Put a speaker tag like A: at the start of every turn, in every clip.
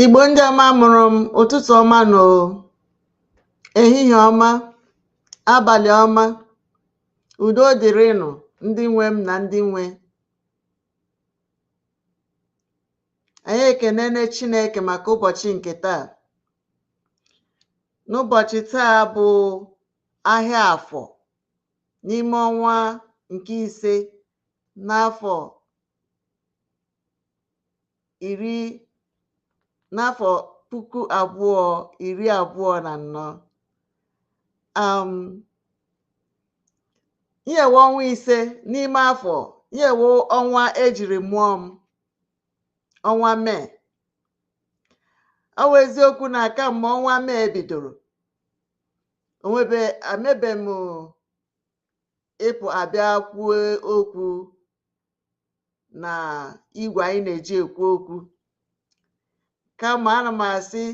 A: Igbo ndị ọma mụrụ m ụtụtụ ọma na ehihie ọma abalị ọma udo dịrịnụ ndị nwe m na ndị nwe anyị ekenene Chineke maka ụbọchị nke taa n'ụbọchị taa bụ ahịa afọ n'ime ọnwa nke ise n'afọ iri n'afọ puku abụọ iri abụọ na anọ um, nyewe ọnwa ise n'ime afọ nyewe ọnwa ejiri mụọ m ọnwa mee ọ bụ eziokwu na kamgbe ọnwa mee bidoro onwebe emebe m ịpụa bịa kwuo okwu na igwe anyị na-eji ekwu okwu kama ana m asị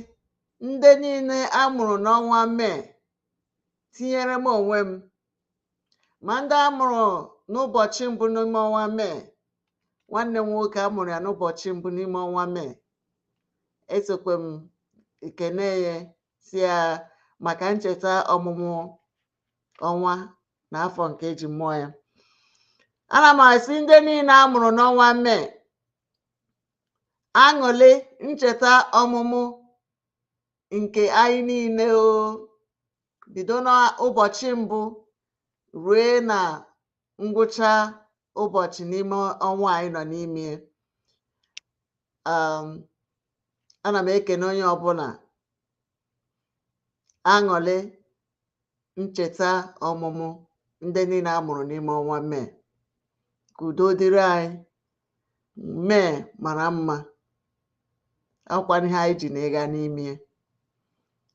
A: ndị niile a mụrụ n'ọnwa mee tinyere m onwe m ma ndị a mụrụ n'ụbọchị mbụ n'ime ọnwa mee nwanne m nwoke a mụrụ ya n'ụbọchị mbụ n'ime ọnwa mee esokwe m ekene ya sị ya maka ncheta ọmụmụ ọnwa na afọ nke eji mụọ ya ana m asị ndị niile a mụrụ n'ọnwa mee aṅụlị ncheta ọmụmụ nke anyị niile o bido n'ụbọchị mbụ rue na ngwụcha ụbọchị n'ime ọnwa anyị nọ n'ime ya ana m ekene onye ọbụla aṅụrị ncheta ọmụmụ ndị niile a mụrụ n'ime ọnwa mee ka udo dịrị anyị mee mara mma ọ bụkwanụ ihe anyị ji na ịga n'ime ya.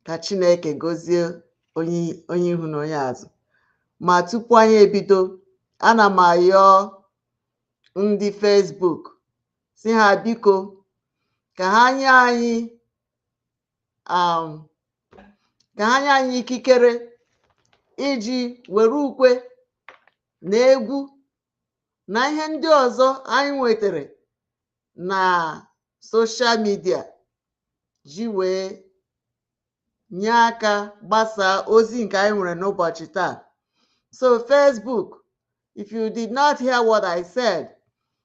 A: ka chineke gozie onye onye ihu na onye azụ ma tupu anyị ebido ana m ayọ ndị Facebook sị ha biko ka ha nye anyị um, ka ha nye anyị ikikere iji were ukwe na egwu na ihe ndị ọzọ anyị nwetara na social media ji wee nye aka gbasaa ozi nke anyị nwere n'ụbọchị taa so Facebook if you did not hear what I said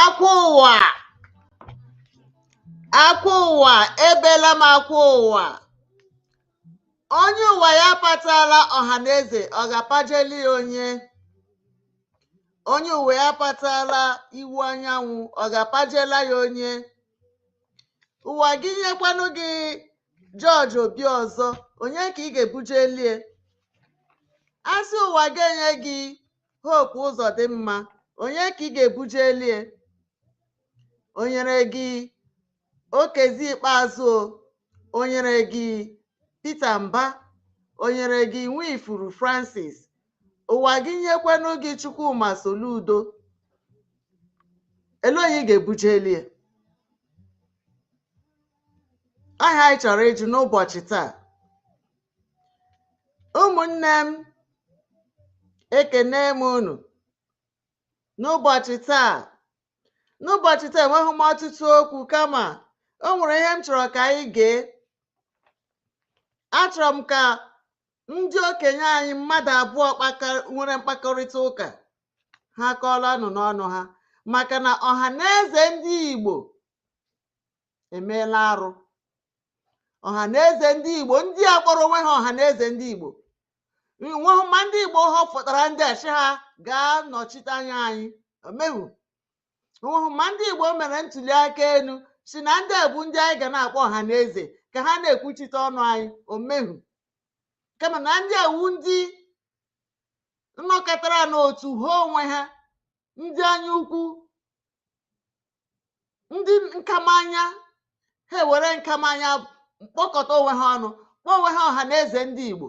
A: akwa ụwa akwa ụwa ebela m akwa ụwa onye ụwa ya patala ọha na eze ọ ga-apajeli ya onye onye ụwa ya patala Iwuanyanwụ ọ ga-apajela ya onye ụwa gị nyekwanụ gị George Obiọzọ onye ka ị ga-ebujelie a sị ụwa ga-enye gị Hope Ụzọdịmma onye ka ị ga-ebujelie o nyere gị Okezie Ikpeazụ o nyere gị Peter Mba o nyere gị Nwifuru Francis ụwa gị nyekwanụ gị Chukwuma Soludo elee onye ị ga-ebujelie aha anyị chọrọ ịjụ n'ụbọchị taa ụmụnne m ekene m unu n'ụbọchị taa n'ụbọchị taa enweghị m ọtụtụ okwu kama o nwere ihe m chọrọ ka anyị gee achọrọ m ka ndị okenye anyị mmadụ abụọ nwere mkpakọrịta ụka ha kọọla nụ n'ọnụ ha maka na ọha na eze ndị Igbo emeela arụ ọha na eze ndị igbo ndị a kpọrọ onwe ha ọha na eze ndị igbo o nweghị ma ndị igbo họpụtara ndị a sị ha gaa nọchite anya anyị o meghu o nweghị ma ndị igbo mere ntuli aka elu sị na ndị a bụ ndị anyị ga na-akpọ ọha na eze ka ha na-ekwuchite ọnụ anyị o meghu kama na ndị a wụ ndị nnọkọtara n'otu ha onwe ha ndị anya ukwu ndị nkamanya ha ewere nkamanya kpọkọta onwe ha ọnụ kpọọ onwe ha ọha na eze ndị igbo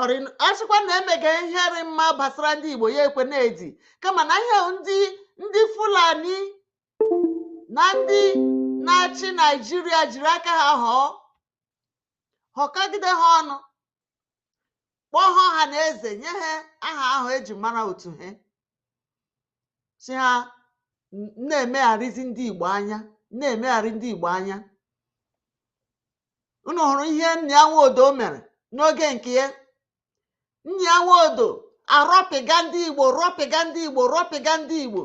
A: Ọrị- a sịkwa na emega ihe rị mma gbasara ndị igbo ya ekwe na-edi kama na ihe ndị ndị fulani na ndị na-achị naijiria jiri aka ha họọ họkọgide ha ọnụ kpọọ ha ọha na eze nye ha aha ahụ e ji mara otu ha sị ha na-emegharịzi ndị Igbo anya na-emegharị ndị Igbo anya unu hụrụ ihe Nnia Nwodo mere n'oge nke ya Nnia Nwodo arọpịga ndị Igbo rọpịga ndị Igbo rọpịga ndị Igbo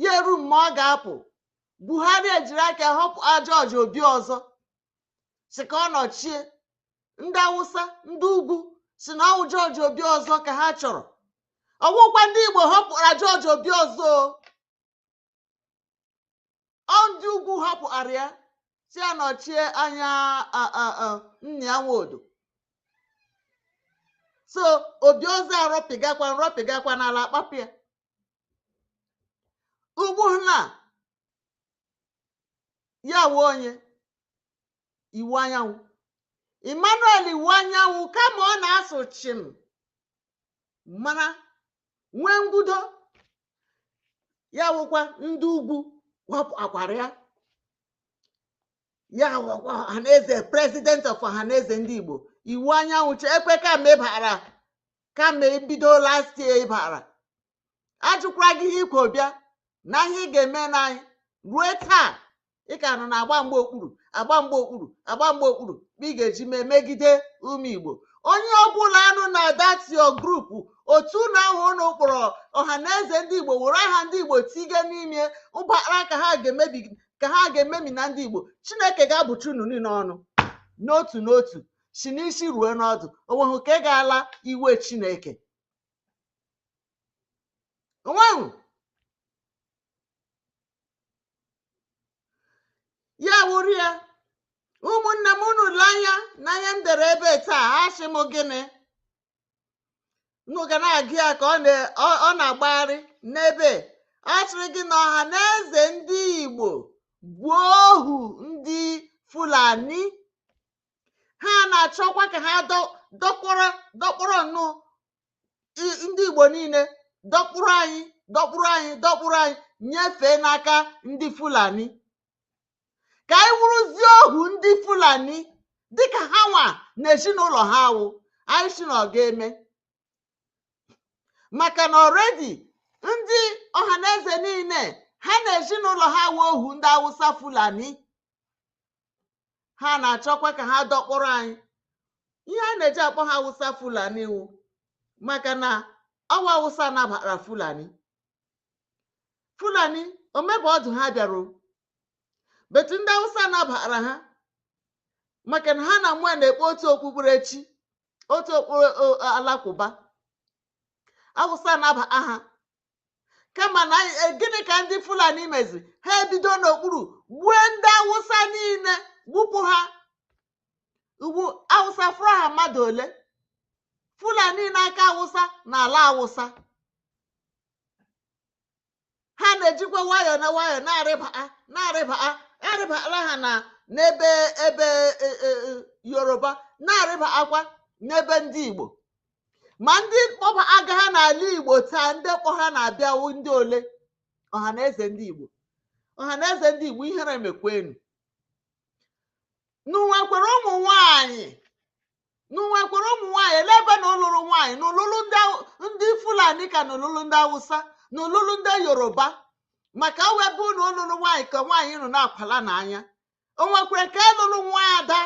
A: ya eru mgbe ọ ga-apụ Buhari ejiri aka họpụ George Obiọzọ sị ka ọ nọchie ndị awụsa ndị ugwu sị na ọwụ george obiozor ka ha chọrọ ọwụkwa ndị igbo họpụara george obiozor ọ ndị ugwu họpụara ya sị ya nọchie anya nnia nwodo so obiozor arọpịgakwa nrọpịgakwa n'ala akpapụ ya ugbu na ya wụ onye iwuanyanwu emmanuel iwuanyanwu kama ọ na-asụ chim mana nwee ngudo ya wụkwa ndị ugwu họpụakwara ya ya wụkwa ọhaneze president of ọhaneze ndị igbo iwuanyanwu che ekwe kama ị bara kama ebido last year ị bara ajụkwara gị ihe i kwo bịa na ihe ị ga-eme n'anyị ruo taa ị ka nọ na-agba mgba okpuru agba mgba okpuru agba mgba okpuru ma ị ga-eji mee megide ụmụ igbo onye ọbụla nọ na that your group otu unu ahụ unu kpọrọ ọhaneze ndị igbo were aha ndị igbo tige n'ime ụbara ka ha ga-ememina ndị igbo chineke ga-abụcha unu niile ọnụ n'otu n'otu si n'isi ruo n'ọdụ onweghị ka ị ga-ala iwe chineke onweghị ya wụrụ ya ụmụnne m unu le anya n'ihe m dere ebe taa asị m gịnị unu ga na-agụ ya ka ọ na-agbagharị n'ebe a sịrị gị na Ọhaneze ndị Igbo bụ ohu ndị Fulani ha na-achọkwa ka ha dọkpụrụ nnọọ ndị Igbo niile dọkpụrụ anyị dọkpụrụ anyị dọkpụrụ anyị nyefee n'aka ndị Fulani ka anyị wụrụzie ohu ndị Fulani dịka ha nwa na ezinụlọ ha wụ anyị sị na ọ ga-eme maka na already ndị ọhaneze niile ha na ezinụlọ ha awụ ohu ndị Awụsa Fulani ha na-achọkwa ka ha dọkpụrụ anyị ihe a na-eji akpọ ha awụsa fulani wụ maka na ọwụ awụsa nabara fulani fulani omebe ọdụ ha bịara but ndị awụsa nabara ha maka na ha na mụ na-ekpe otu okpukperechi otu okpukpere alakụba awụsa anaba ha kama na e, gịnị ka ndị fulani meziri ha ebido n'okpuru gbue ndị awụsa niile gbupụ ha ugbu a awụsa fọrọ ha mmadụ ole fulani na-aka awụsa na ala awụsa ha na-ejikwa nwayọ na nwayọ na-arịba a na-arịba a arịbala ha na n'ebe ebe e, e, e, yoruba na-arịbakwa n'ebe ndị igbo ma ndị kpọbaga ha n'ala igbo taa ndị kpọ ha na-abịa wụ ndị ole ọha na eze ndị igbo ọha na eze ndị igbo ihere mekwe unu unu nwekwere ụmụ nwanyị unu nwekwere ụmụ nwanyị ele ebe unu lụrụ nwanyị unu lụrụ ndị Hau- ndị fulani ka unu lụrụ ndị awụsa unu lụrụ ndị yoruba maka ọ wụ ebe unu lụrụ nwanyị ka nwaanyị nọ na-akwala n'anya o nwekwere ke lụrụ nwa ada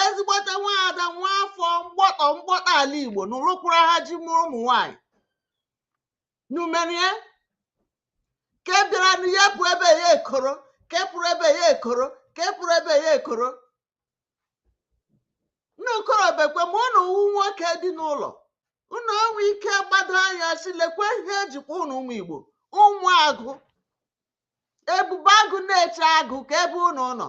A: ezigbote nwaada nwa afọ mgbọtọ mgbọtọ ala igbo unu lụkwara ha ji mụrụ ụmụ nwanyị unu merie ke bịara na ya pụ ebe ya ekoro ke pụrụ ebe ya ekoro ke pụrụ ebe ya ekoro unu korobekwe ma ụnụ wu nwoke dị n'ụlọ unu enwe ike gbado anya sị lekwe ihe e jikwa ụnụ ụmụ igbo ụmụ agụ ebube agụ na-eche agụ ka ebe ụnụ nọ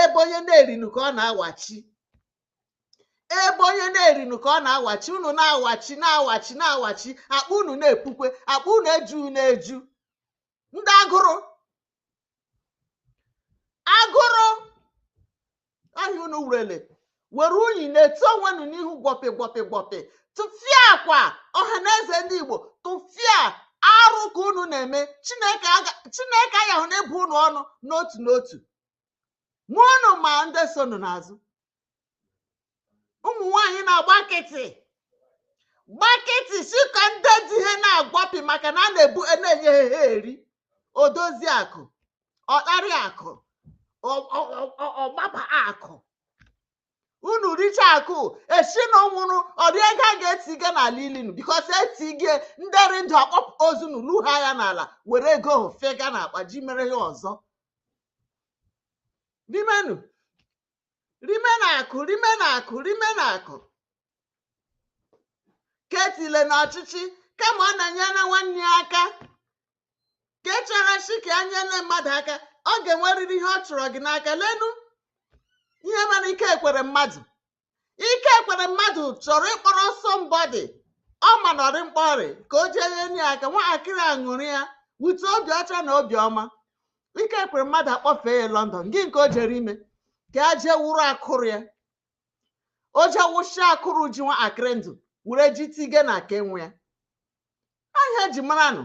A: ebe onye na-erinu ka ọ na-awachi ebe onye na-erinu ka ọ na-awachi unu na-awachi na-awachi na-awachi akpa unu na-epukwe akpa unu eju na-eju ndị agụrụ agụrụ ahịa unu wurele were unyi na-etu onwe unu n'ihu gwọpị gwọpị gwọpị tụfịakwa ọha na eze ndị igbo tụfịa arụ ka unu na-eme chineke aga- chineke anyị ahụ na-abụ unu ọnụ n'otu n'otu ma unu ma ndị so unu n'azụ ụmụ nwaanyị na-agba nkịtị gba nkịtị sị ka ndị di ha na-agwọpị maka na a na-ebu a na-enye ha ha eri odozi akụ ọkparị akụ ọgbaba akụ unu richa akụ a sị na unu nwụrụ ọ dị ego a ga-etiga n'ala ili unu because e tige ndị rị ndụ akpọpụ ozu unu luha ya n'ala were ego ahụ fega na akpa ji mere ihe ọzọ rimenu rimenu akụ rimenu akụ rimenu akụ ke e tile na ọchịchị kama ọ na-enyere nwanne ya aka ke chere sị ka a nyere mmadụ aka ọ ga-enwerịrị ihe ọ chọrọ gị n'aka lenu ihe mere ike ekweremadu ike ekweremadu chọrọ ịkpọrọ somebody ọ ma na ọ rị mkpa ọ rị ka o jee nye ya aka nwatakịrị aṅụrịa wute obi ọcha na obi ọma ike ekweremadu akpọfee ya london gịnị ka o jere ime ka a jee wụrụ akụrụ ya o jee wụsha akụrụ ji nwa akịrị ndụ were ji tige na aka enwe ya ahịa eji mara nụ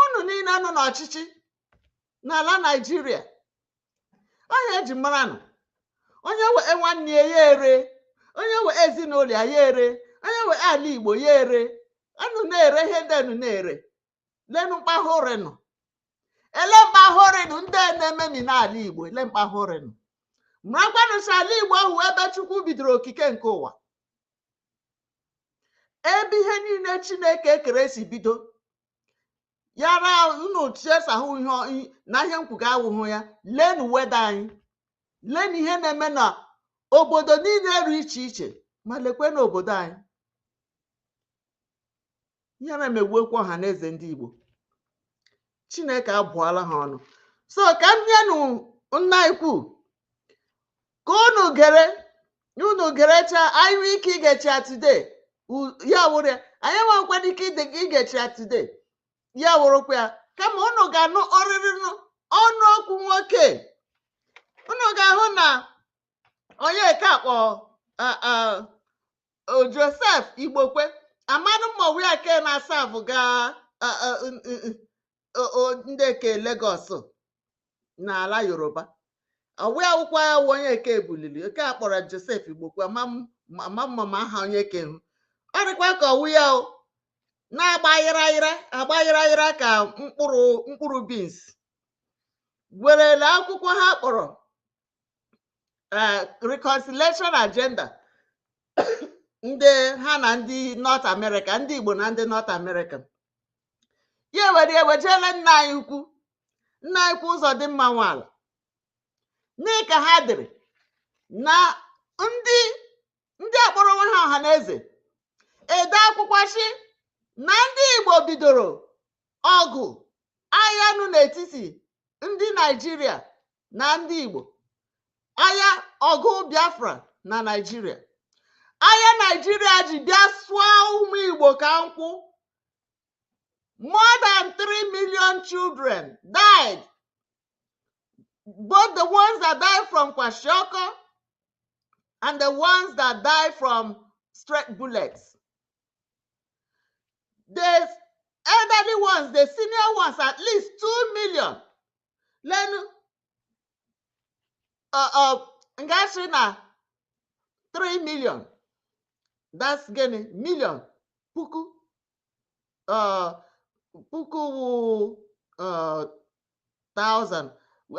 A: unu niile nọ n'ọchịchị n'ala naijiria ahịa eji mara nụ onye wee nwanne ya ya ere onye wee ezinụlọ ya ya ere onye wee ala igbo ya ere anu na-ere ihe ndị anu na-ere lenu mkpahụrịnụ ele mkpahụrịnụ ndị a na-ememi n'ala igbo ele mkpahụrịnụ marakwanụ sị ala igbo ahụ wụ ebe chukwu bidoro okike nke ụwa ebe ihe niile chineke ekere si bido ya ra unu chesahụ ihe na ihe m kwuga awụhụ ya lenu weather anyị lenu ihe na-eme na obodo niile ru iche iche ma lekwe n'obodo anyị ihere emegbuokwa ọha na eze ndị Igbo Chineke abụọla ha ọnụ so ka m nyenụ nna anyị ukwu ka unu gere unu gerechaa anyị nwee ike igecha ya today U- ya wụrụ ya anyị enweghịkwana ike ide- igecha ya today ya wụrụkwa ya kama unu ga-anụ ọrịrị nụ- ọnụ okwu nwoke unu ga-ahụ na onye ka akpọ a- a- o joseph igbokwe amanụ m ma ọ wụ ya ke na-asa abụ gaa a- a- n- n- n- o- o- ndị ke lagos n'ala yoruba ọ wụ ya wụkwa ya wụ onye eke ebulili oke a kpọrọ joseph igbokwe ama m- ama m ma ma aha onye ke hụ ọ dịkwa ka ọ wụ ya o na-agba ayịra ayịra agba ayịra ayịra ka mkpụrụ mkpụrụ beans werele akwụkwọ ha kpọrọ eh, reconciliation agenda ndị ha na ndị North America ndị Igbo na ndị North America ya ewere wejeele nna anyị ukwu nna anyị ukwu Ụzọdịmma Nwala mee ka ha dịrị na ndị ndị akpọrọ onwe ha ọha na eze ede akwụkwọ sị na ndị Igbo bidoro ọgụ agha nụ n'etiti ndị naijiria na ndị igbo agha ọgụ biafra na naijiria agha naijiria ji bịa sụọ ụmụ igbo ka nkwụ more than 3 million children died both the ones that died from kwashiorkor and the ones that died from straight bullets the elderly ones the senior ones at least two million lenu uh, uh, nga-asị na 3 million that's gịnị million puku uh, puku wụ uh, thousand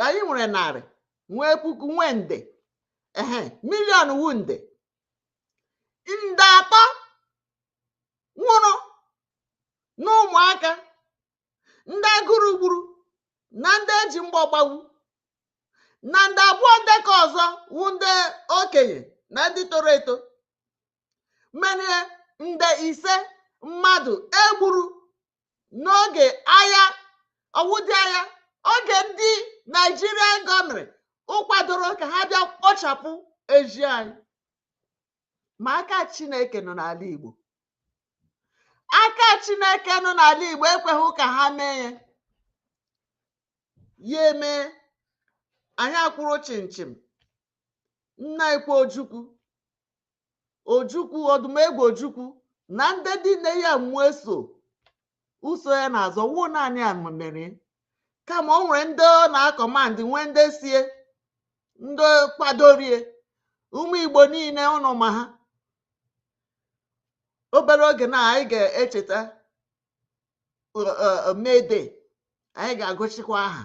A: anyị nwere narị nwee puku nwee nde ehe million wụ nde nde atọ nwụrụ n'ụmụaka ndị agụrụ gburu na ndị eji mgbọ gbagbu na nde abụọ ndị ke ọzọ wụ ndị okenye na ndị toro eto mere nde ise mmadụ egburu n'oge agha ọwụdị agha oge ndị naijiria gọọmenti kwadoro ka ha bịa kpochapụ ezi anyị ma aka chineke nọ n'ala igbo aka chineke nọ n'ala igbo ekweghị ka ha mee ya ya eme anyị akwụrụ chịmchịm nna ikwe ojukwu ojukwu odumegwu ojukwu na ndị dị nne ya mmụọ eso uso ya n'azụ ọ wụọ naanị ya mere kama o nwere ndị ọ na-akọmandị nwee ndị so ya ndị kwadoro ya ụmụ igbo niile ụnụ ma ha obere oge na anyị ga-echeta mede anyị ga-agụchikwa aha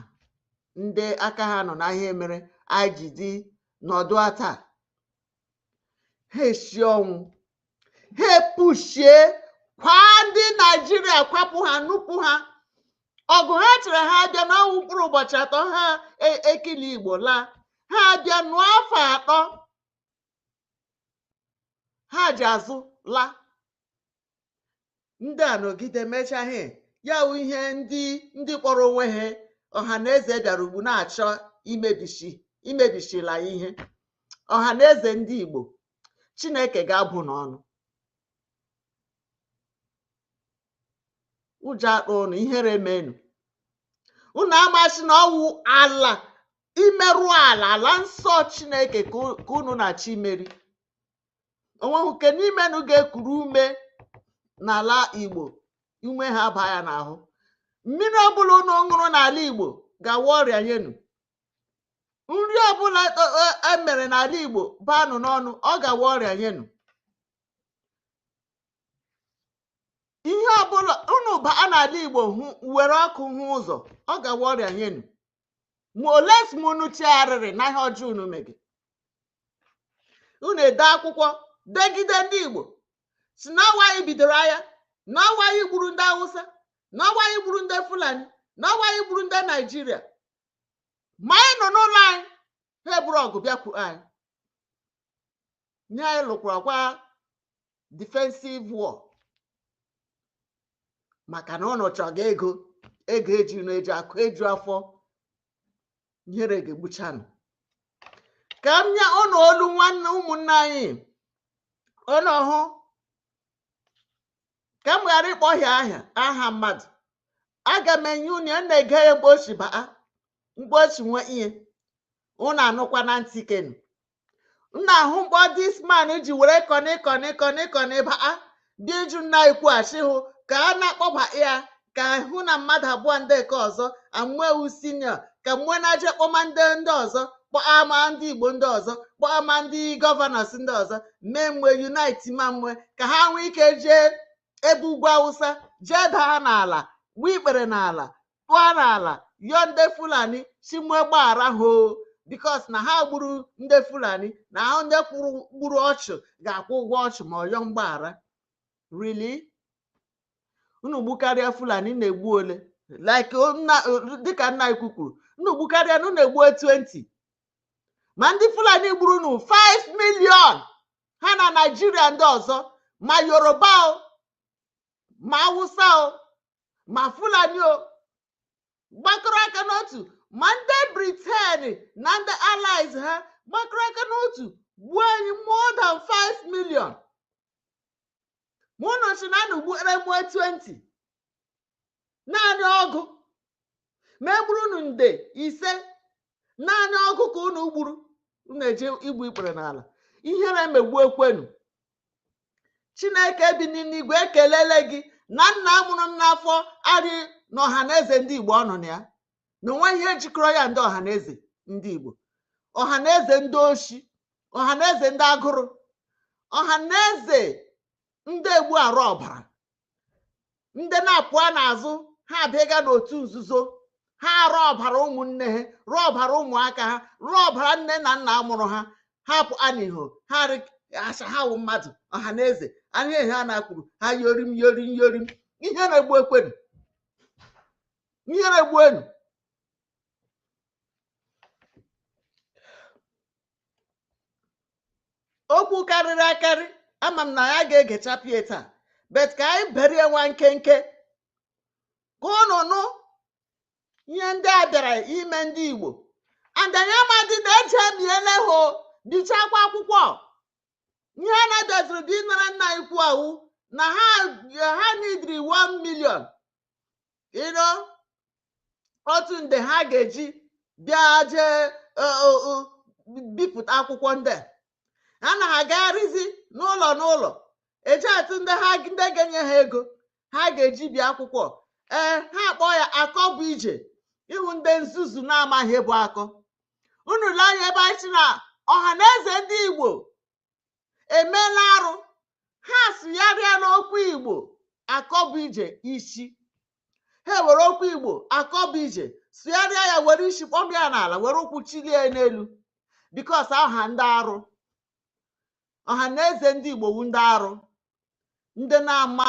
A: ndị aka ha nọ na ihe mere anyị ji dị nọdụ taa ha esie ọnwụ ha epushie kwaa ndị naijiria kwapụ ha nupụ ha ọgụ ha chere ha abịa na-anụ mkpụrụ ụbọchị atọ ha e- ekili igbo laa ha abịa nụọ afọ atọ ha ji azụ laa ndị a nọgide mechaa ihe ya wụ ihe ndị ndị kpọrọ onwe ha ọha na eze bịara ugbu a na-achọ imebichi imebisila ihe ọha na eze ndị Igbo Chineke ga-abụnu ọnụ ụjọ akpa ụnụ ihere menu unu amasị na ọwụ ala imerụ ala ala nsọ Chineke ka unu na-achọ imerụ onweghị nke n'imenu ga-ekuru ume n'ala igbo ume ahụ abaa ya n'ahụ mmiri ọbụla unu ṅụrụ n'ala igbo ga-awụ ọrịa nyenu nri ọbụla emere n'ala igbo baanụ n'ọnụ ọ ga-awụ ọrịa nyenu ihe ọbụla unu baa n'ala igbo were ọkụ hụ ụzọ ọ ga-awụ ọrịa nyenu ma ole si m unu chegharịrị na ihe ọjọọ unu mege unu ede akwụkwọ degide ndị igbo si na ọ wụ anyị bidoro agha na ọ wụ anyị gburu ndị awụsa na ọ wụ anyị gburu ndị fulani na ọ wụ anyị gburu ndị naijiria ma anyị nọ n'ụlọ anyị ha eburu ọgụ bịakwu anyị nye anyị lụkwara kwa defensive war maka na ụnụ chọga ego ego eji na eji akụ eju afọ ihere ga-egbuchanụ ka m nye ụnụ olu nwanne ụmụnne anyị ụnụ hụ ka m ghara ịkpọhịa aha aha mmadụ aga m enye unu ya na-ege ya mgbe o si baa mgbe o si nwee ihe unu anụkwa na ntị kenu m na-ahụ mgbe this man ji were kọnị kọnị kọnị kọnị baa dị jụ nna ikwu asị hụ ka a na-akpọba ya ka hụ na mmadụ abụọ ndị nke ọzọ amụewu senior ka mwe na-eje kpọma ndị ndị ọzọ kpọama ndị igbo ndị ọzọ kpọama ndị governors ndị ọzọ mee mwe unite ma mwe ka ha nwee ike jee ebe ugwu awụsa jee daa n'ala gbuo ikpere n'ala tụọ n'ala yọọ ndị fulani si mwe gbaghara ha o because na ha gburu ndị fulani na ha ndị gburu ọchụ ga-akwụ ụgwọ ọchụ ma ọ yọọ mgbaghara really unu gbukarịa fulani na-egbu ole like dịka nna ikwu kwuru unu gbukarịa na unu egbuo 20 ma ndị fulani gburu unu 5 million ha na naijiria ndị ọzọ ma yoruba o ma awụsa o ma fulani o gbakọrọ aka n'otu ma ndị briten na ndị allies ha gbakọrọ aka n'otu gbuo anyị more than 5 million ma ụnụ si na unu gbukere mụọ 20 naanị ọgụ ma e gburu unu nde ise naanị ọgụ ka unu gburu unu eje igbu ikpere n'ala ihere emegbu ekwenu chineke bi n'igwe ekelele gị na nna mụrụ m n'afọ arị na ọha na eze ndị igbo ọ nọ na ya na o nwe ihe jikọrọ ya ndị ọha na eze ndị Igbo ọha na eze ndị oshi ọha na eze ndị agụrụ ọha na eze ndị egbu arụ ọbara ndị na-apụa n'azụ ha abịaga n'otu nzuzo ha arụ ọbara ụmụnne ha rụọ ọbara ụmụaka ha rụọ ọbara nne na nna mụrụ ha ha pụa n'iho ha asị ha wụ mmadụ ọha na eze anya ihe ha na-akwuru ha yorim yorim yorim ihe na-egbu ekwenu ihere egbuenu okwu karịrị akarị ama m na anyị aga-egechapụ ya taa but ka anyị bere ya nwa nkenke ka unu nụ ihe ndị a bịara ime ndị igbo andanya amadị na eji emiele ha bichakwa akwụkwọ ihe a na-abịaziri dị ịnara nna ikwu awụ na ha ha needịrị 1 million you know otu nde ha ga-eji bịa jee e, bipụta akwụkwọ ndị a na ha agagharịzi n'ụlọ n'ụlọ eje atụ ndị ha ndị ga-enye ha ego ha ga-eji bie akwụkwọ ee ha akpọ ya akọ bụ ije ịhụ ndị nzuzu na-amaghị ihe bụ akọ unu lee anya ebe anyị si na Ọhanaeze ndị Igbo emeela arụ ha sụgharịa n'okwu igbo akọbụije isi ha were okwu igbo akọbụije sụgharịa ya were isi kpọmie ya n'ala were ụkwụ chilie ya n'elu because awụ ha ndị arụ Ọhanaeze ndị igbo wu ndị arụ ndị na-ama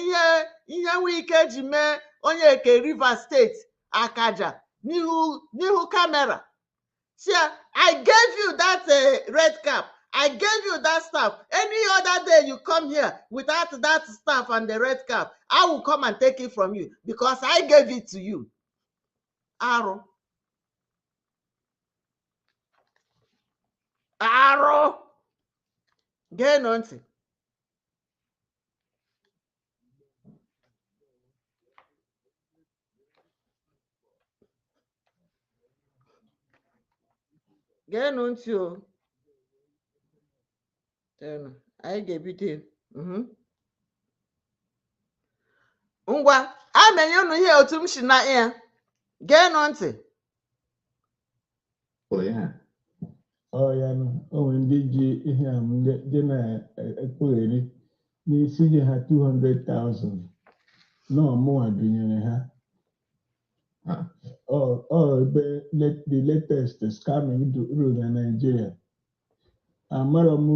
A: ihe ihe Wike ji mee onye nke Rivers State akaja n'ihu n'ihu camera sị ya I gave you that uh, red cap I gave you that staff any other day you come here without that staff and the red cap I will come and take it from you because I gave it to you arụ arụ geenụ ntị geenụ ntị o Chenụ, anyị ga-ebido ya. Mhm. ngwa a na-enye unu ihe otu m si na ya geenụ ntị
B: pụrụ ya ọya o nwe ndị ji ihe a dị na-ekpugheri n'isi ji ha 200,000 na ọ mụwa binyere ha ọ ebe the latest scamming ruru na Nigeria amarọ m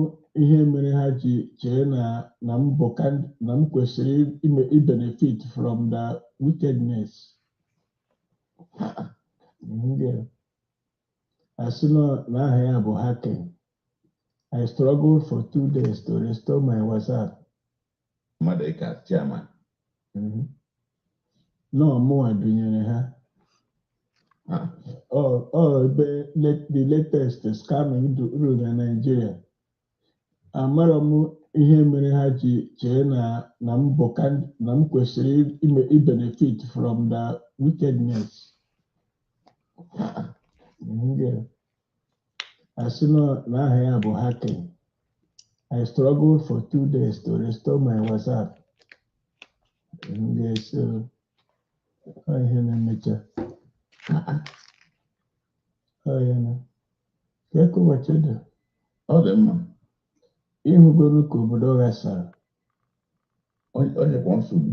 B: ihe mere ha ji chee na na m bụ kan- na m kwesịrị ime ibenefit from the wickedness Ndị a, a sị na na aha ya bụ hacking I struggled for two days to restore my WhatsApp Madueke chairman mhm. na ọ mụwa gụnyere ha ah. ọ ebe the latest scamming rule na Nigeria amarọ m ihe mere ha ji chee na na m kwesịrị ibenefit from the wickedness a sị na na aha ya bụ hacking I struggled for two days to restore my WhatsApp m ga-eso ọ ihe na-emecha ọ ya
C: na ka eke ụbọchị dị ọ dị
B: mma ịhụgoro ka obodo ghasara
C: ọ ọ dịkwa nsogbu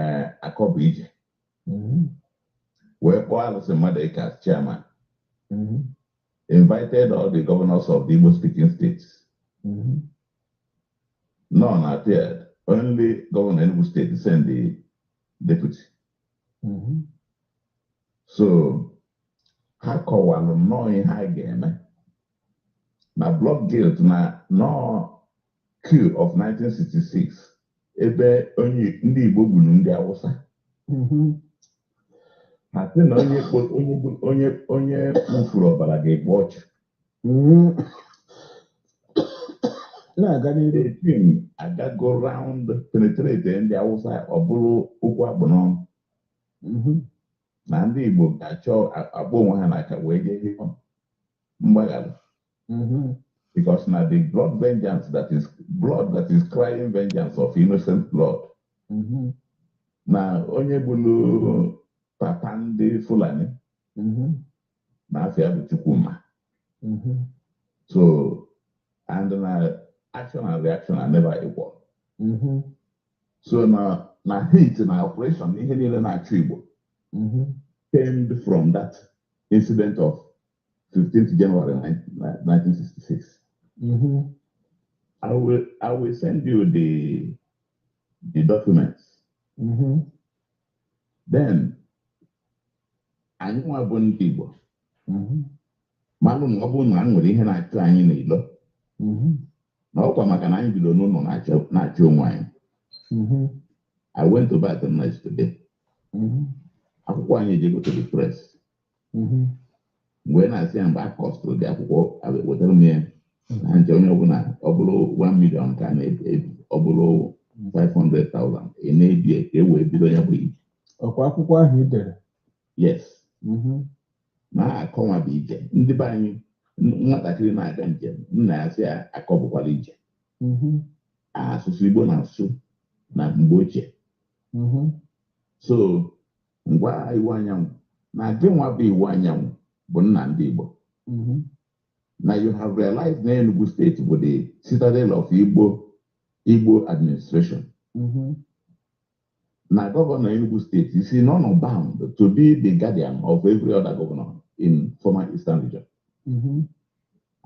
C: ee akọ bụ ije mm-hmm. wee kpọọ Alison Madueke as chairman mm-hmm. invited all the governors of the Igbo speaking states mm-hmm. none appeared only governor Enugu state send the deputy so ha kọwalụ nnọọ ihe ha ga-eme na blood guilt na nọọ coup of 1966 ebe onye ndị Igbo gburu ndị Awụsa mhm. ha sị na onye kpo- onye gbu- onye onye wụfuru ọbara ga-ekpe ọchụ Mhm. na-aga n'iru the thing agago round penetrate ndị Awụsa ọ bụrụ okwu a kpụ n'ọnụ Mhm. na ndị Igbo ga-achọ a- akpọ onwe ha n'aka wee jee rịọ mgbaghara mm-hmm. because na the blood vengeance that is blood that is crying vengeance of innocent blood mm-hmm. na onye gbulu papa ndị Fulani mm-hmm. na afa ya bụ Chukwuma so and na action and reaction are never equal so na na hate na oppression ihe niile na-achụ Igbo came from that incident of 15th January 1966. Mm-hmm. I will I will send you the the documents. Mm-hmm. Then anyị nwa bụ ndị Igbo mm-hmm. malụ na ọ bụrụ na e nwere ihe na-achụ anyị n'ilo mm-hmm. na ọ kwa maka na anyị bido n'ụnọ na-achụ onwe anyị mm-hmm. I went to bat night today akwụkwọ anyị ejego to the press mhm. mgbe na-asị ya mgbe a kọstụrụ dị akwụkwọ wetara m ya mhm. na nche onye ọbụla ọ bụrụ 1 million ka na-ebi ọ bụrụ 500,000 ị na-ebi ka e wee bido ya bụ ije ọkwa akwụkwọ ahụ ị
B: dere
C: yes mhm. na akọ nwa bụ ije ndị be anyị nwatakịrị na-aga njem nna ya sị ya akọ bụkwa ije asụsụ Igbo na-asụ na mgbe ochie so ngwa Iwuanyanwu na gị nwa bụ Iwuanyanwu bụ nna ndị Igbo mm-hmm. now you have realized na Enugu steeti bụ the citadel of Igbo Igbo administration mm-hmm. na gọvanọ Enugu steeti is honour bound to be the guardian of every other governor in former Eastern region mm-hmm.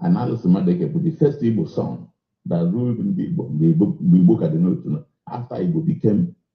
C: and Allison Madueke bụ the first Igbo son that ruled ndị Igbo mgbe Igbo ka dị n'otu after Igbo became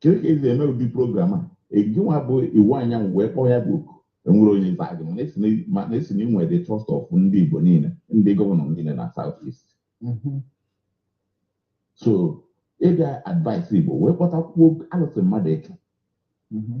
C: kedu ka e si eme ụdị program a gị nwa bụ Iwuanyanwu wee kpọọ ya bụ oku e nwere onye za gị mana esi na- mana esi na inwe the trust of ndị igbo niile ndị gọvanọ niile na south east Mhm. so ị bịa advise igbo wee kpọtakwuo Allison Madueke Mhm.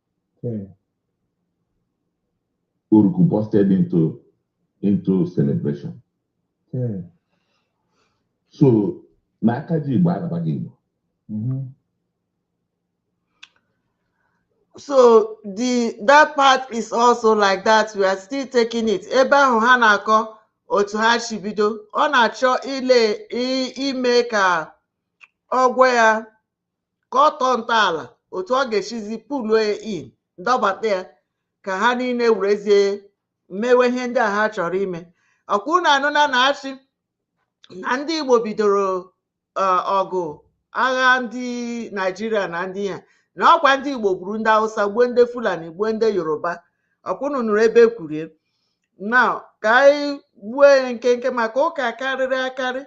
C: Okay. Oruku busted into into celebration. Okay. So na aka ji Igbo arabaghị Igbo. Mm-hmm.
A: So the that part is also like that we are still taking it. Ebe ahụ ha na-akọ otu ha si bido ọ na-achọ ile ime ka ọ gwọ ya ka ọ tọọ ntọala otu ọ ga-esizi puluo in dọbata ya ka ha niile werezie mewe ihe ndị a ha chọrọ ime ọkwa unu anụna na a sị na ndị igbo bidoro eh, ọgụ agha ndị naijiria na ndị ha na ọkwa ndị igbo gburu ndị hausa gbuo ndị fulani gbuo ndị yoruba ọkwa unu nụrụ ebe e kwuru ya na ka anyị gbuo ya nkenke maka ụka karịrị akarị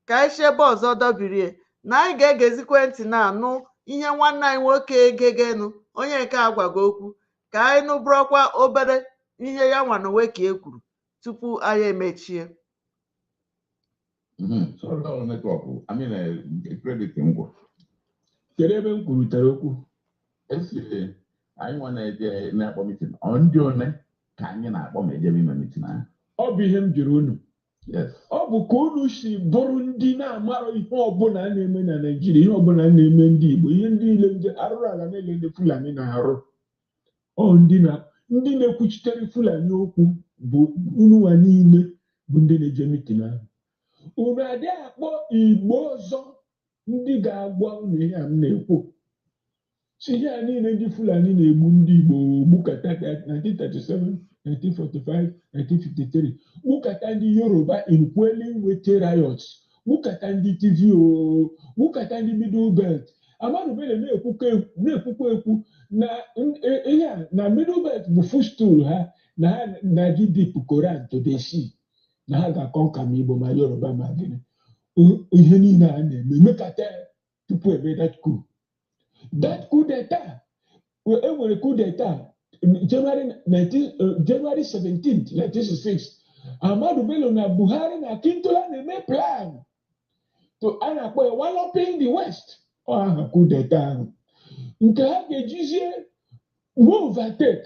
A: ka anyị si ebe ọzọ dọbirie na anyị ga-egezikwa ntị na-anụ ihe nwanne anyị nwoke egegenu onye nke a gwago okwu ka anyị nụbụrụkwa obere ihe ya nwa n'onwe ka e kwuru tupu anyị emechie Mhm. Sorry, that was
C: network. I mean, uh, credit m gwụ.
B: Kedu ebe m kwurutere okwu? A
C: sị anyị nwa na-eje na-akpọ mitin. Ọ ndị one ka anyị na-akpọ ma e jebe ime mitin ahụ. Ọ bụ ihe m jụrụ
B: unu. ọ
C: bụ ka
B: unu si bụrụ ndị na-amara ihe ọbụla a na-eme na Naịjirịa ihe ọbụla na-eme ndị Igbo ihe ndị niile ndị arụrụ ala niile ndị Fulani na-arụ ọ ndị na-ekwuchitere Fulani okwu bụ ununwa niile bụ ndị na-eje mitin ahụ unu adịghị akpọ Igbo ọzọ ndị ga-agwa unu ihe a m na-ekwu si ihe a niile ndị Fulani na-egbu ndị Igbo gbukata 1937 1945 1953 gbukata ndị Yoruba in quelling wetie riots gbukata ndị Tiv gbukata ndị Middle Belt Ahmadu Bello na-ekwukwa ekwu na e, ihe a na Middle Belt bụ footstool ha na ha na-aga ịdip Koran to the sea na ha ga-akọnka ma Igbo ma Yoruba ma gịnị ihe niile a na-eme mekata tupu e mee that coup that coup d'etat e nwere coup d'etat January 19 January 17th 1966 Ahmadu Bello na Buhari na Akintola na-eme plan to a na-akpọ ya walloping the West ọ aha coup d'etat ahụ nke ha ga-ejizie move and take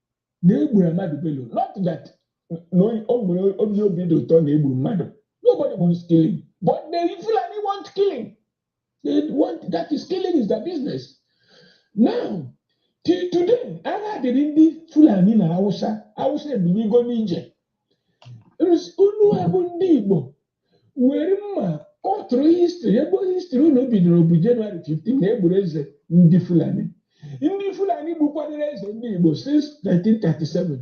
B: na e gburu Ahmadu Bello not that na o nwere onye obi dị ụtọ na e gburu mmadụ nobody wants killing but the Fulani want killing they want that is killing is their business now till today agha dịrị ndị Fulani na Hausa Hausa ebiligo n'ije unu a bụ ndị Igbo were mma kọtụrụ histri ebe histri unu bidoro bụ jenụwarị 15 na e gburu eze ndị fulani ndị fulani gbukwadoro eze ndị igbo since 1937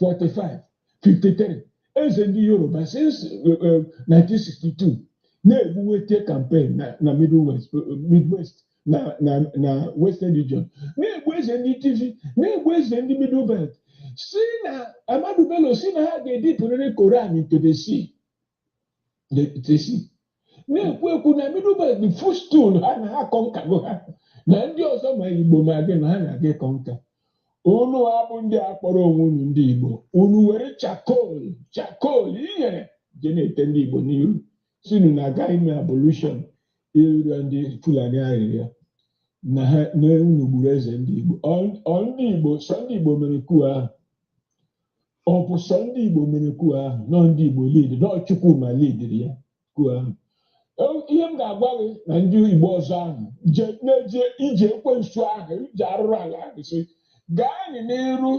B: 45 53 eze ndị yoruba since eh, eh, 1962 na-egbu wetie kampen na na Middle West- eh, midwest na na na western region na-egbu eze ndị tiv na-egbu eze ndị middle belt si na ahmadu bello si na ha ga-edipụrịrị koran to the sea the sea na-ekwu ekwu na middle belt the footstool ha na ha kọnkago ha na ndị ọzọ ma igbo ma gị na ha na-aga ịkọnka unu a bụ ndị a kpọrọ onwe unu ndị igbo unu were chakol chakol inyere je na-ete ndị igbo n'iru sị unu na-aga ime abolushon ịrịọ ndị Fulani arịrịọ na ha na unu gburu eze ndị Igbo Ọ- ọ ndị Igbo sọ ndị Igbo mere kuu ahụ ọ bụ sọ ndị Igbo mere kuu ahụ na ọ ndị Igbo lid na ọ Chukwuma lidiri ya kuu ahụ Ọ- ihe m ga-agwa gị na ndị Igbo ọzọ ahụ je na-eje ije ekwensu ahụ ije arụrụ ala ahụ sị gaanị n'iru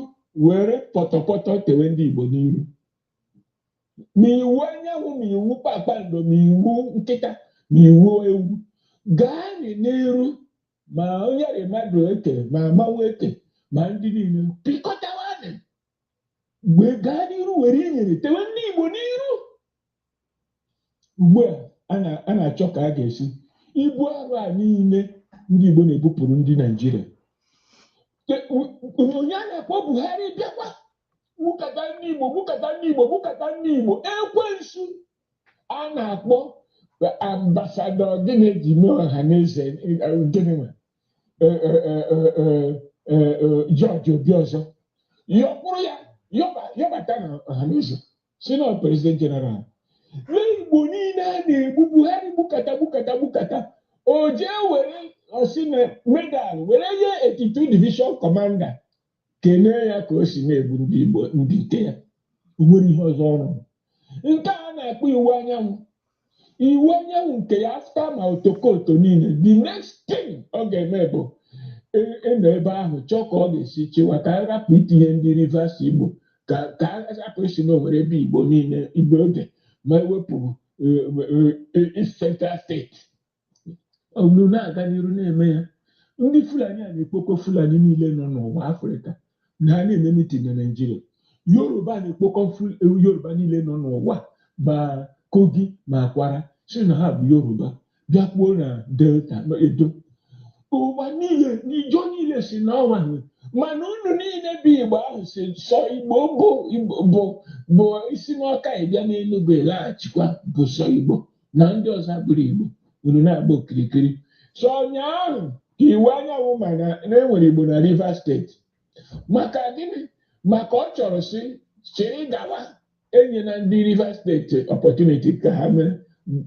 B: were pọtọpọtọ tewe ndị Igbo n'iru ma Iwuanyanwụ ma iwu kpakpando ma iwu nkịta ma iwu ewu gaanị n'iru ma onye rị Madụeke ma mmanwụ eke ma ndị niile pịkọtawanị wee gaa n'iru were inyere tewe ndị Igbo n'iru ugbu a a na-achọ ka a ga-esi ibu arụ a niile ndị Igbo na-ebupụrụ ndị Naijiria onye a na-akpọ Buhari bịakwa gbukata ndị Igbo gbukata ndị Igbo gbukata ndị Igbo ekwensu a na-akpọ ambasadọ gịnị ji mee ọha na eze gịnị nwe George Obiọzọ yọkwụrụ ya yọbata na ọha na eze sị na president general igbo niile a na-egbu Buhari gbukata gbukata gbukata o jee were ọ sị na medal were nye 82 division commander kene ya ka o si na-egbu ndị igbo ndị nke ya o nwere ihe ọzọ ọrụ nke a na-akpọ Iwuanyanwụ Iwuanyanwụ nke ya after ma otokoto niile the next thing ọ ga-eme bụ e- ịnọ ebe ahụ chọọ ka ọ ga-esi chịwa ka a rapụ itinye ndị rivers igbo ka ka a rapụ ịsị na o nwere ebe igbo niile igbo oge ma e wepụ eh, eh, eh, East central State unu na-aga n'iru na-eme ya ndị fulani a na-ekpokọ fulani niile nọ n'ụwa afrịka na ha na-eme mitin na naijiria yoruba na-ekpokọ yoruba niile nọ n'ụwa ma kogi ma Kwara sị na ha bụ yoruba bịakwuo na delta edo ụwa niile n'ijo niile sị na ọwa mana unu niile bụ igbo ahụ sị sọ igbo bụ bụ bụ i si n'Ọka ị bịa n'enugwu laghachikwa bụ sọ igbo na ndị ọzọ abụrọ Igbo unu na-agba okirikiri so ụnyaahụ ka Iwuanyanwụ ma na e nwere Igbo na Rivers State maka gịnị maka ọ chọrọ sị chịrị gawa enyena ndị Rivers State opportunity ka ha mee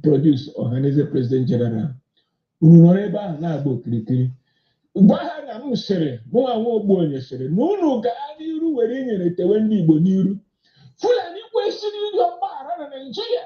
B: produce Ohanaeze president general unu nọrọ ebe ahụ na-agba okirikiri gwa ha na m sịrị mụnwa nwa Ogbuonye sịrị na unu gaa n'iru were inyere tewe ndị Igbo n'iru Fulani kwesịrị ịrịọ mgbaghara na Naịjirịa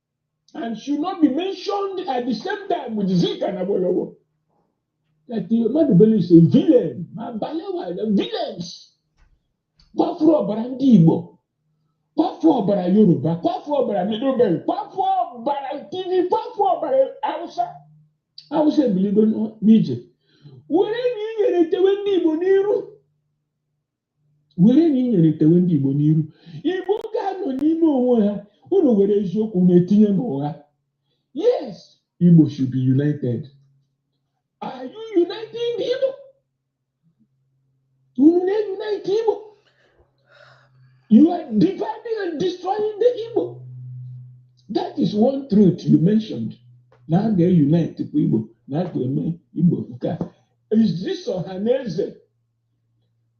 B: and should not be mentioned at the same time with Zik and Awolowo. That Ahmadu Bello is a villain, ma Balewa is a villains. Kwafuru ọbara ndị Igbo, kwafuru ọbara Yoruba, kwafuru ọbara Middle Belt, kwafuru ọbara Tiv, kwafuru ọbara Hausa. Hausa ebiligo n'ije. Were na inyere tewe ndị Igbo n'iru. were na inyere tewe ndị Igbo n'iru Igbo ga-anọ n'ime onwe ha unu were eziokwu na-etinye n'ụgha yes Igbo should be united are you uniting the Igbo unu na-unite Igbo you are dividing and destroying the Igbo that is one truth you mentioned na a ga-unite Igbo na a ga-eme Igbo nke a is this Ohaneze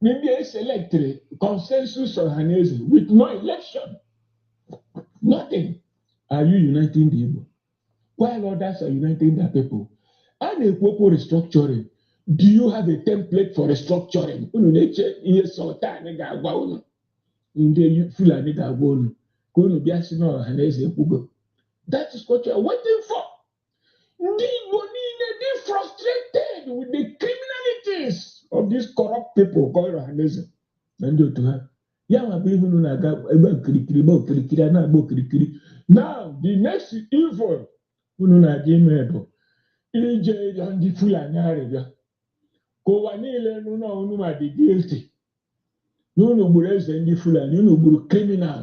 B: ndị eselectịrị consensus ọhaneze with no election nothing are you uniting the Igbo while others are uniting their people a na-ekwu okwu restructuring do you have a template for restructuring unu na-eche ihe sultan ga-agwa unu ndị Fulani ga-agwa unu ka unu bịa sị na ọhaneze ekwugo that is what you are waiting for ndị Igbo niile dị frustrated with the criminalities of these corrupt people called ọhaneze na ndị otu ha ya nwa bụ ihe unu na-aga ebe okirikiri ebe okirikiri a na-agba okirikiri now the next evil unu na-aga ime bụ ije rịọ ndị Fulani arịrịọ ka ụwa niile nụ na unu ma dị guilty na unu gburu eze ndị Fulani unu gburu criminal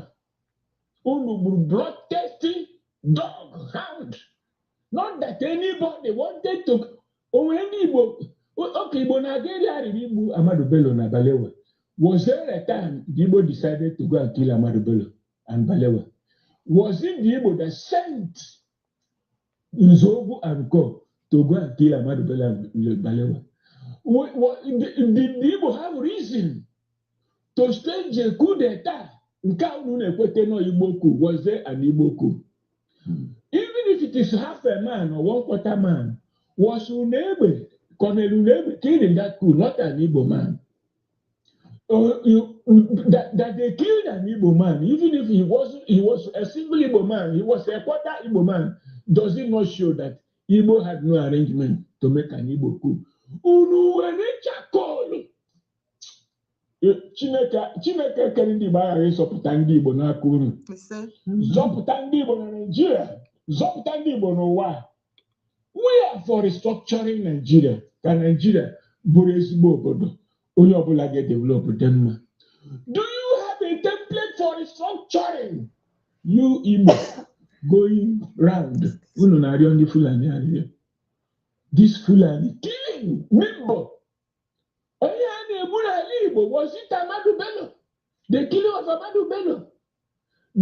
B: unu gburu bloodthirsty dog hound not that anybody wanted to o nwe ndị Igbo okay Igbo na-aga ịrịọ arịrịọ igbu Ahmadu Bello na Balewa was there a time the Igbo decided to go and kill Ahmadu Bello and Balewa was it the Igbo that sent is over and gone to go and kill Ahmadu Bello Balewa. The, the, the Igbo have reason to stage a coup d'etat nke unu na-ekweta na Igbo coup was there an Igbo coup. Hmm. Even if it is half a man or one quarter man, was Unegbe, Colonel Unegbe killed in that coup, not an Igbo man. uh, you, that, that they killed an Igbo man, even if he was he was a single Igbo man, he was a quarter Igbo man, does it not show that Igbo had no arrangement to make an Igbo coup? Unu were chakolu. Eh, Chineke Chineke kere ndị Igbo aghaghị ịzọpụta ndị Igbo n'aka unu. Zọpụta ndị Igbo na Naịjirịa, zọpụta ndị Igbo n'ụwa. we are for restructuring Nigeria ka Nigeria bụrụ ezigbo obodo onye ọbụla ga-edevelop dị mma do you have a template for restructuring you Igbo going round unu na-arịọ ndị Fulani arịrịọ this Fulani killing Igbo onye a na-egbu n'ala Igbo was it Ahmadu Bello the killing of Ahmadu Bello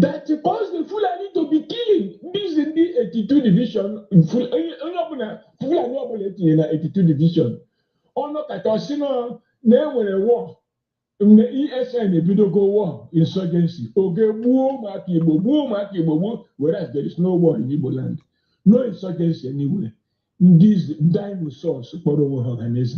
B: that caused the Fulani to be killing these ndị 82 division onye ọbụla Fulani ọbụla e tinye na 82 division ọ nọkata ọ sị na e nwere war ndị ESN ebidogo war insurgency o jee gbuo ụmụaka Igbo gbuo ụmụaka Igbo gbuo whereas there is no war in Igbo land no insurgency anywhere these dinosaurs kpọrọ onwe ha ọhaneze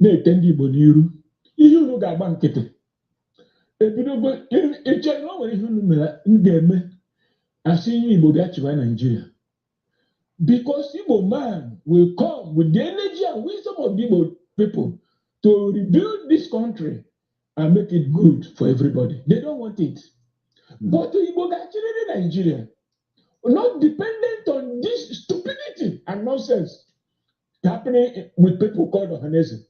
B: na-ete ndị Igbo n'iru ihe unu ga-agba nkịtị ebidogo eche na o nwere ihe unu mere m ga-eme a sị Igbo bịa chịwa Naijiria because Igbo man will come with the energy and wisdom of the Igbo people to rebuild this country and make it good for everybody. They don't want it. But Igbo ga-achịrịrị Naijiria not dependent on this stupidity and nonsense. happening with people called Ohaneze,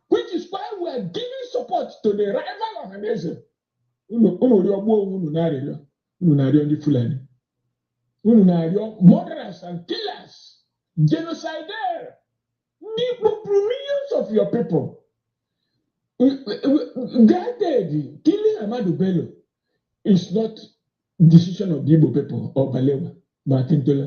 B: which is why we are giving support to the rival Ohaneze. Unu rịọgbuo onwe unu na-arịọ unu na-arịọ ndị Fulani unu na-arịọ murderers and killers genocidaires ndị kpọpụrụ millions of your people granted killing Ahmadu Bello is not decision of the Igbo people or Balewa ma Akintola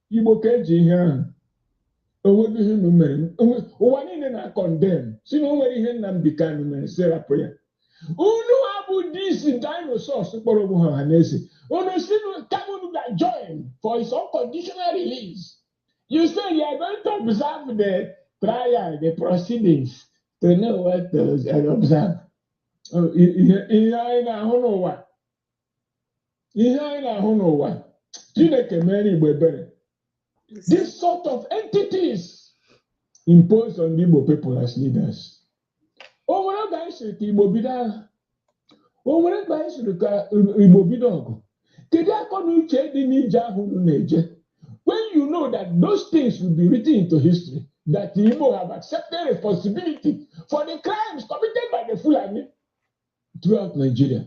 B: igbo ka eji ihe ahụ onweghị ihe unu mere ụwa niile na-acondemn si na o nwere ihe Nnamdi Kanu mere si rapụ ya unu abụ these dinosaurs kpọrọ onwe ha Ohaneze unu si kama unu ga-join for his unconditional release you say you are going to observe the trial the proceedings to know what to observe ihe anyị na-ahụ n'ụwa ihe anyị na-ahụ n'ụwa Chineke mere Igbo ebere this sort of entities imposed on the Igbo people as leaders o nwere oge anyị siri ka Igbo bido agha o nwere mgbe anyị siri ka Igbo bido ọgụ kedu akọ na uche dị n'ije ahụ unu na-eje when you know that those things will be written into history that the Igbo have accepted responsibility for the crimes committed by the Fulani throughout Nigeria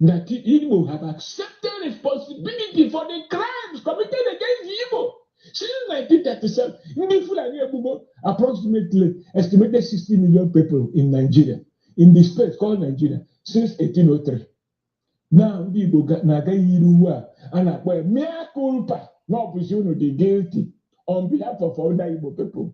B: that Igbo have accepted responsibility for the crimes committed against the Igbo since 1937. Ndị Fulani egbugwo approximately estimated 60 million people in Nigeria in the space called Nigeria since 1803. Now ndị Igbo na-aga yiri uwe a a na-akpọ ya mea culpa na ọ bụzi unu dị guilty on behalf of other Igbo people.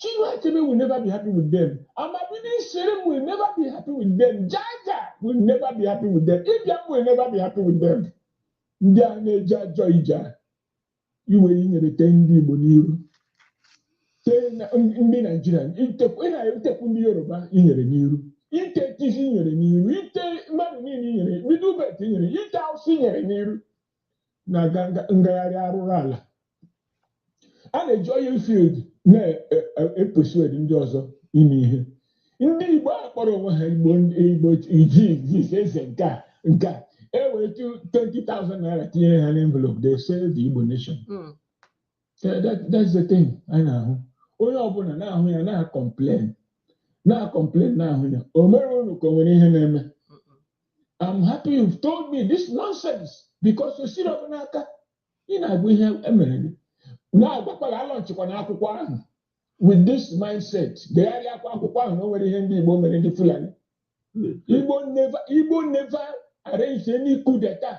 B: Chinua Achebe will never be happy with them. Amabini Shirim will never be happy with them. Jaja will never be happy with them. Ibiam will never be happy with them. Ndị a na-eje ajọ ije iwe inyere tee ndị Igbo n'iru ndị Naijiria itekwu ndị Yoruba inyere n'iru ite Tiv inyere n'iru ite mmadụ niile inyere Middle Belt inyere ite Awụsa inyere n'iru na ngagharị arụrụ ala a na-eji oil field na-epersuade ndị ọzọ ime ihe ndị Igbo a kpọrọ onwe ha Igbo Igbo iji eze nke a nke a e wee 20,000 naira tinyere ha n'envelope they sell the Igbo nation hmm. That- that- that's the thing anyị na-ahụ onye ọbụla na-ahụ ya na-acomplain na-acomplain na-ahụ ya o mere unu ka o nwere ihe na-eme I'm happy you've told me this nonsense because o siri ọ bụ n'aka ị na-agwa ihe emere gị na-agwakwala alaunchikwana akwụkwọ ahụ with this mindset degharịakwa akwụkwọ ahụ na o nwere ihe ndị Igbo mere ndị Fulani Igbo never Igbo never arranged any coup d'etat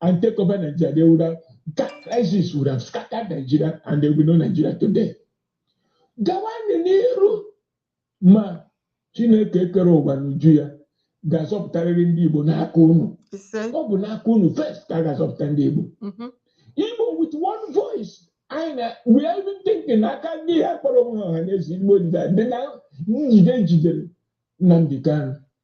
B: and take over Nigeria, they would have that crisis would have scattered Nigeria and there would be no Nigeria today. Gawanụ n'iru ma Chineke kere ụwa n'uju ya ga-azọpụtarịrị ndị Igbo n'aka unu. Ọ bụ n'aka unu first ka a ga-azọpụta ndị Igbo. Mm-hmm. Igbo with one voice anyị na we are even thinking aka ndị a kpọrọ onwe ha Ọhanaeze Igbo dị na njide e jidere Nnamdi Kanu.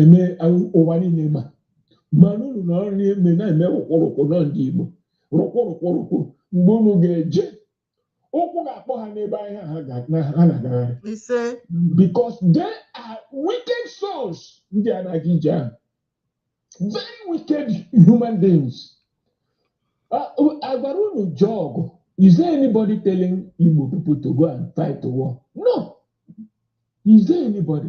B: eme ụwa niile ma ma na unu nọrọ n'ime na-eme rụkwụrụkwụ na ndị Igbo rụkwụrụkwụrụkwụ mgbe unu ga-eje ụkwụ ga-akpọ ha n'ebe ahụ ha na-agagharị because they are wicked souls ndị a na-aga ije ahụ very wicked human beings a gwara unu jee ọgụ is there anybody telling Igbo people to go and fight the war no is there anybody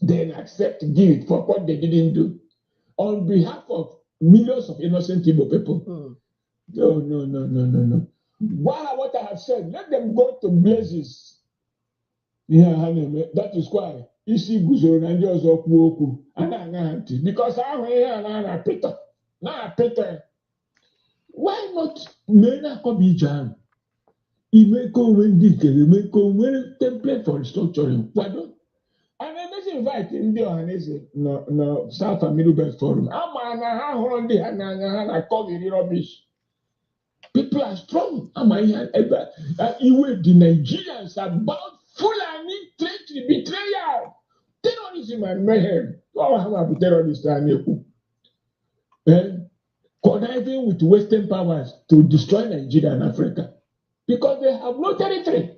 B: then accept guilt for what they didn't do on behalf of millions of innocent Igbo people. Mm. No, no, no, no, no, no. Why what I have said, let them go to blazes. ihe ha na-eme that is why Isiguzoro na ndị ọzọ kwuo okwu a na-aṅa ha ntị because ahụ ihe a na-apịtọ na-apịtọ why not mee na-akọba ije ahụ ime ka o nwee ndị nke e mee ka o nwee template for restructuring kwado a na-emezi invite ndị Ọhanaeze na South and Middle Belt forum a ma na ha hụrụ ndị ha n'anya ha na-akọghịrị rubbish people are strong a ma ihe ebe iwe dị Nigerians about Fulani treachery betrayal terrorism and mayhem ọ ha ma bụ terrorist a na-ekwu conniving with Western powers to destroy Nigeria and Africa because they have no territory.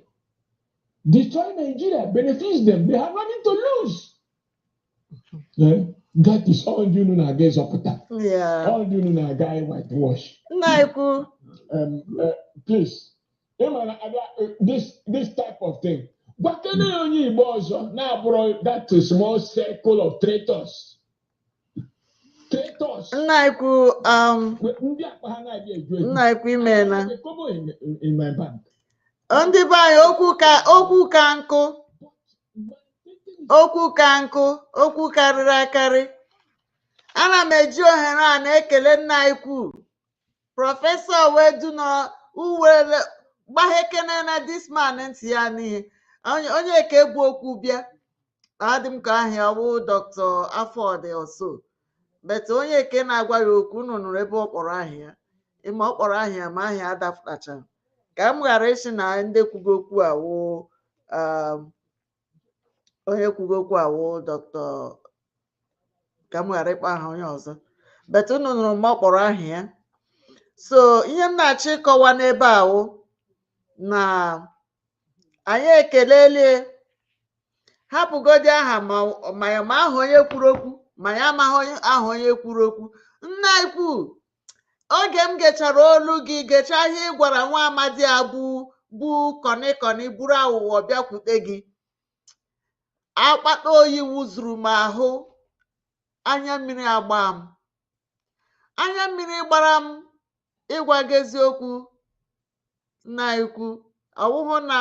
B: Destroy Nigeria benefits them. They have nothing to lose. Yeah. That is all you know na-aga ịzọpụta. Yeah. All you know
A: na-aga
B: whitewash. Nna ekwu. Um,
A: uh,
B: please, ị mara abịa uh, this this type of thing. Gwakene onye Igbo ọzọ na-abụrụ that small circle of traitors. nna ikwu
A: um, nna ikwu i
B: meela ndị be
A: anyị okwu ka okwu ka nkụ okwu ka nkụ okwu karịrị akarị ana m eji ohere a na-ekele nna ikwu prọfesọ wedu na uwere gbahekene na this man ntị ya n'ihe onye ke bu okwu bịa adị m ka aha ya wụ doctor afọdị ọso but onye ke na-agwa ya okwu unu nụrụ ebe ọ kpọrọ aha ya ịma ọ kpọrọ aha ya ma aha ya adapụtacha ka m ghara ịsị na ndị kwugo okwu a wụ onye kwugo okwu a wụ doctor ka m ghara ịkpọ aha onye ọzọ but unu nụrụ ma ọ kpọrọ aha ya so ihe m na-achọ ịkọwa n'ebe a wụ na anyị ekelelie hapụgodi aha ma ma ya ma aha onye kwuru okwu ma ya amaghị onye aha onye kwuru okwu nna anyị ukwu oge m gechara olu gị gechaa ihe ị gwara nwa amadi a bụ bụ kọnịkọnị buru aghụghọ bịakwute gị akpata oyi wụzuru m ahụ anya mmiri agba m anya mmiri gbara m ịgwa gị eziokwu nna anyị ukwu ọ wụhụ na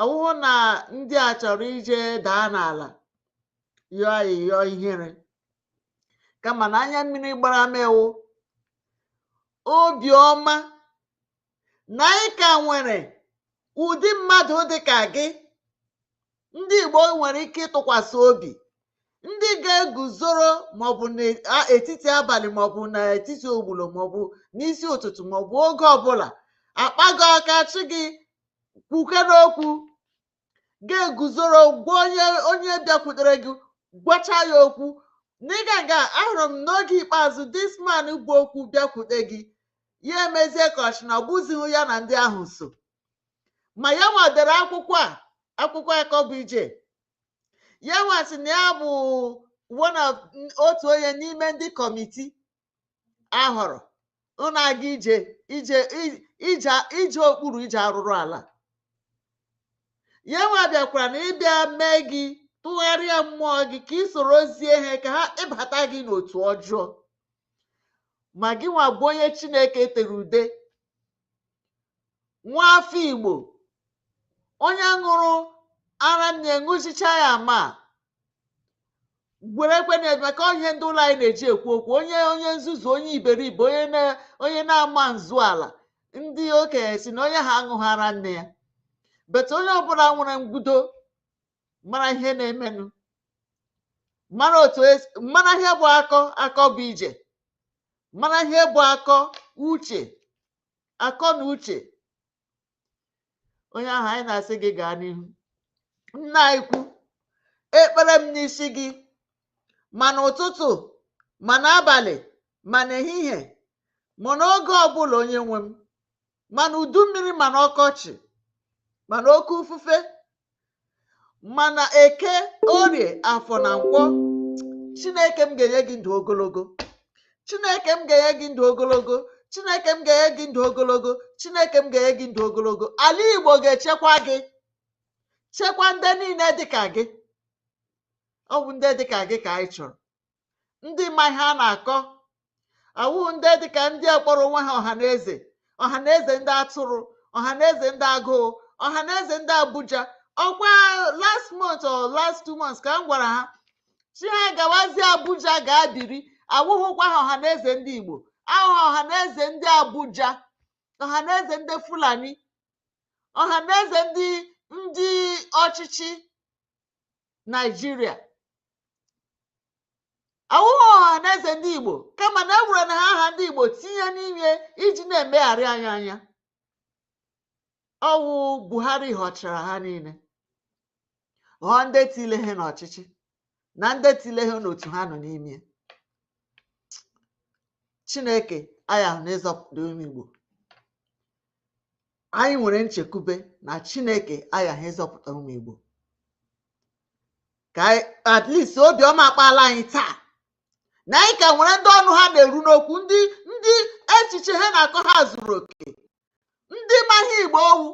A: ọ wụhụ na ndị a chọrọ ije daa n'ala yọọ ayịyọ ihere kama na anya mmiri gbara m wụ obi ọma na anyị ka nwere ụdị mmadụ dị ka gị ndị Igbo nwere ike ịtụkwasị obi ndị ga-eguzoro maọbụ n'etiti abalị maọbụ n'etiti ogbulu maọbụ n'isi ụtụtụ maọbụ oge ọbụla akpa gị aka asị gị kwuke n'okwu ga-eguzoro gwa onye onye bịakwutere gị gwacha ya okwu n'ịga nga ahụrụ m n'oge ikpeazụ this man bu okwu bịakwute gị ya emezie ka ọ sị na ọ bụzighị ya na ndị ahụ so ma ya nwa dere akwụkwọ a akwụkwọ akọ bụ ije ya nwa sị na ya bụ one of n- otu onye n'ime ndị kọmiti ahọrọ ịna-aga ije ije i- ije ije okpuru ije arụrụ ala ya nwa bịakwara na ịbịa mee gị tụgharịa mmụọ gị ka ị sorozie ha ka ha webata gị n'otu ọjọọ ma gị nwa bụ onye chineke tere ude nwa afọ Igbo onye ṅụrụ ara nne ṅụchichaa ya ma gwere ekwe na maka ihe ndị ụlọ anyị na-eji ekwu okwu onye onye nzuzu onye iberibe onye na-ama nzu ala ndị okenye sị na onye ahụ aṅụghị ara nne ya but onye ọbụla nwere ngudo mara ihe na-emenụ mara otu esi mara ihe bụ akọ akọ bụ ije mara ihe bụ akọ uche akọ na uche onye ahụ anyị na-asị gị gaa n'ihu nna anyị ukwu ekpere m n'isi gị ma n'ụtụtụ ma n'abalị ma n'ehihie ma n'oge ọbụla onye nwe m ma n'udu mmiri ma n'ọkọchị ma n'oke ufufe ma n'eke orie afọ na nkwọ chineke m ga-enye gị ndụ ogologo chineke m ga-enye gị ndụ ogologo chineke m ga-enye gị ndụ ogologo chineke m ga-enye gị ndụ ogologo ala igbo ga-echekwa gị chekwa ndị niile dịka gị ọ bụ ndị dịka gị ka anyị chọrọ ndị ma ihe a na-akọ awụghị ndị dịka ndị a kpọrọ onwe ha ọha na eze ọha na eze ndị atụrụ ọha na eze ndị agụụ ọha na eze ndị abuja ọkwa last month or last two months ka m gwara ha sị ha gawazie abuja gaa biri awụghịkwa ha ọha na eze ndị igbo awụ ha ọha na eze ndị abuja ọha na eze ndị fulani ọha na eze ndị ndị ọchịchị naijiria awụghị ọha na eze ndị igbo kama na ewerena ha aha ndị igbo tinye n'ime iji na-emegharị anyị anya ọwụ buhari họchara ha niile họọ ndị tile ha n'ọchịchị na ndị tile ha n'otu ha nọ n'ime chineke ayaghị na ịzọpụta ụmụ igbo anyị nwere nchekwube na chineke aghaghị ịzọpụta ụmụ igbo ka at least obiọma akpaala anyị taa na anyị ka nwere ndị ọnụ ha na-eru n'okwu ndị echiche ha na akọ ha zuru oke ndị ma ihe igbo ọwụ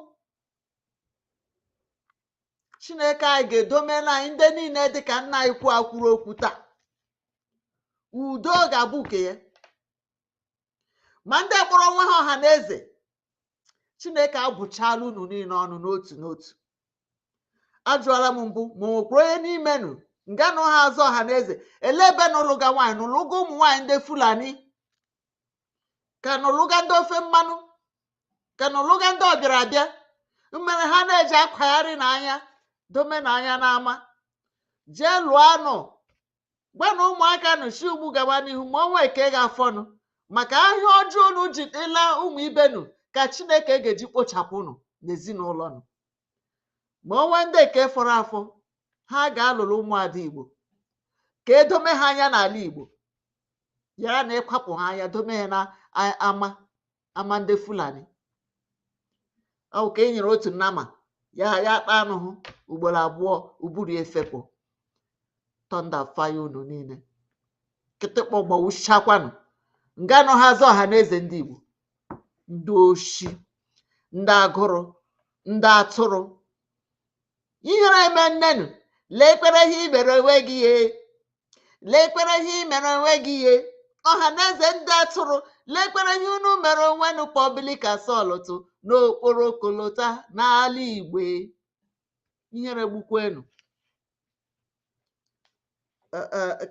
A: chineke anyị ga-edomela anyị ndị niile dị ka nna anyị ukwu a kwuru okwu taa udo ga-abụ nke ya ma ndị kpọrọ onwe ha ọha na eze chineke abụchala unu niile ọnụ n'otu n'otu ajụọla m mbụ ma o nwekwara onye n'ime nụ nga nụ ha aza ọha na eze ele ebe nụ lụga nwaanyị nụ lụga ụmụ nwaanyị ndị fulani ka nụ lụga ndị ofe mmanụ ka nụ lụga ndị ọbịara abịa mmere ha na-eji akwagharị nụ anya dome nụ anya n'ama jee lụọ anụ gwa na ụmụaka nụ si ugbu a gawa n'ihu ma o nwe ke ga-afọ nụ maka ahịa ọjọọ unu ji ịla ụmụ ibe nụ ka chineke ga-eji kpochapụ nụ n'ezinụlọ nụ ma o nwe ndị ke fọrọ afọ ha ga-alụrụ ụmụada igbo ka edome ha anya n'ala igbo yara na ịkwapụ ha anya dome ha n'ama ama ndị fulani ọ wụ ka e nyere otu nama ya kpaa anụ hụ ugboro abụọ ụbụrụ ya efepụ tọnda faya unu niile kịtịkpa gbawuchakwa nụ nga nọ ha aza ọha na eze ndị igbo ndị oshi ndị agụrụ ndị atụrụ ihere eme nne nụ lekwere ihe ị mere onwe gị ihe lekwere ihe ị mere onwe gị ihe ọha na eze ndị atụrụ lekwere ihe unu mere onwe nụ public assault n'okporo kolota n'ala igbo ihere gbukwe nụ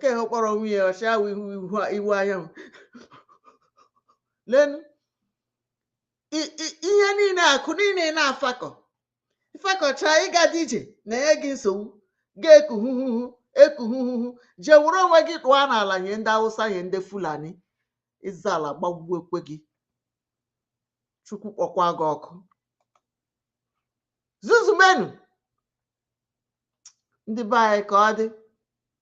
A: ke ha kpọrọ nwunye ọchịagha iwuanyanwụ leenụ i- i- ihe niile akụ niile ị na-afakọ ị fakọchaa ịgadị ije na-enye gị nsogbu ga-eku huhuhu eku huhuhu jee were onwe gị tụọ n'ala nye ndị awụsa nye ndị fulani ịza ala gbagbuokwe gị chukwu kpọkwa gị ọkụ zuzumenu ndị be anyị ka ọ dị